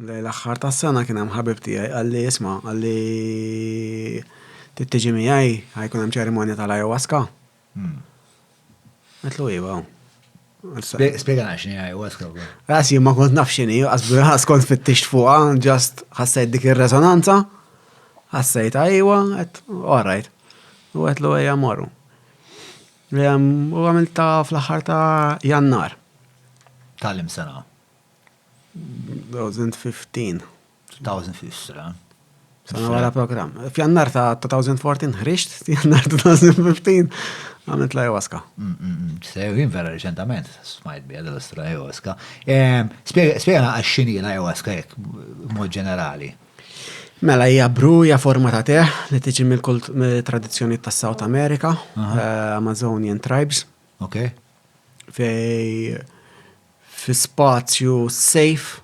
Lejn l-aħħar tas-sena kien hemm ħabib tiegħi qalli isma' qalli tittiġi miegħi ħajkun hemm ċerimonja tal-ayahuasca. Hmm. Għetlu iva. Spiega nax ni ayahuasca. Għas jimma kont naf xini, għas kont fit-tix fuqa, ġast ħassajt dik il-resonanza, ħassajt għajwa, għet, alright. U għetlu għajja morru. U għamil ta' fl-ħar ta' jannar. Tal-im sena. 2015. 2015. Sana wara program. F'jannar ta' 2014 ħriġt, f'jannar 2015 għamilt la jawaska. Mm, mm, mm. Sejrin vera reċentament, smajt bija dal-istra jawaska. Ehm, Spiega għaxxini la jawaska jek, mod ġenerali. Mela hija bruja forma ta' teħ li tiġi mill-tradizzjoni ta' South America, eh, Amazonian tribes. Ok. Fej Fi spazju safe,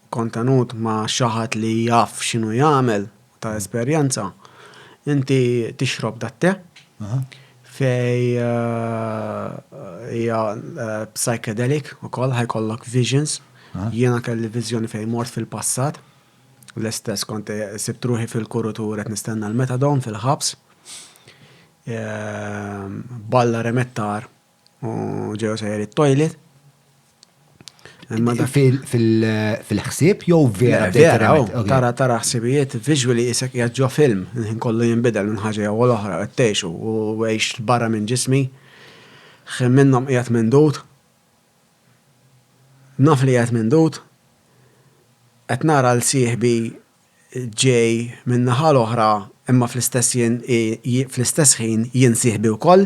kontenut ma' xi ħadd li jaf x'inhu jagħmel u ta' esperjenza, inti tixrob dat-te fej hija psychedelic ukoll, ħa jkollok visions. Jiena kelli viżjoni fejn mort fil-passat, l-istess kont sibt ruħi fil-kurutur qed nistenna l-methadone fil-ħabs. Balla remettar. U ġew sejjer it-toilet. Fil-ħsieb jew vera vera. Tara tara ħsibijiet visually isek jaġġo film, nħin kollu jinbidel minn ħaġa jew l-oħra qed tgħixu u għex barra minn ġismi. Ħin minnhom qiegħed mindud. Naf li qiegħed mindud. Qed nara l sieħbi ġej min-naħa l-oħra imma fl-istess jien fl-istess ħin jien sieħbi wkoll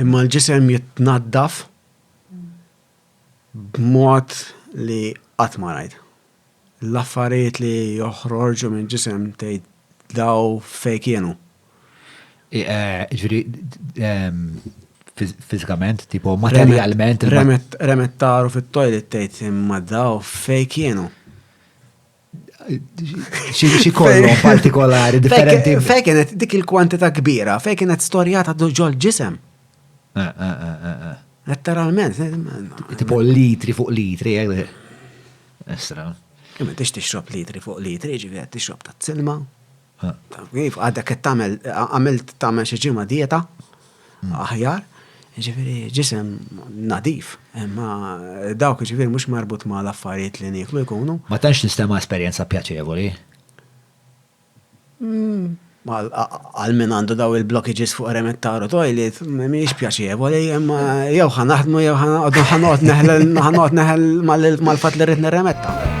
Imma l-ġisem jitnaddaf b'mod li qatt ma rajt. L-affarijiet li joħorġu minn ġisem tgħid daw fej kienu. Ġifieri fiżikament, tipo materjalment. Remet taru fit-toilet tgħid imma daw fej kienu. xi kollhom partikolari differenti. Fej kienet dik il-kwantità kbira, fej kienet storjata ġol ġisem. Eh, eh, eh, Letteralment. Tipo litri fuq litri, Esra. Imma tix tixrob litri fuq litri, ġivi għed tixrob ta' t-silma. Iva, għadek qed tagħmel għamilt tagħmel xi ġimgħa dieta aħjar, ġifieri ġisem nadif, imma dawk ġifieri mhux marbut ma' l-affarijiet li nieklu jkunu. Ma tantx nistema' esperjenza pjaċevoli. Għal min għandu daw il-blockages fuq remettaru toilet, Mhix pjaċevoli, imma jew ħa naħdmu jew ħa noqgħod neħel ħa noqgħod neħel mal-fatt li rrid nirremetta.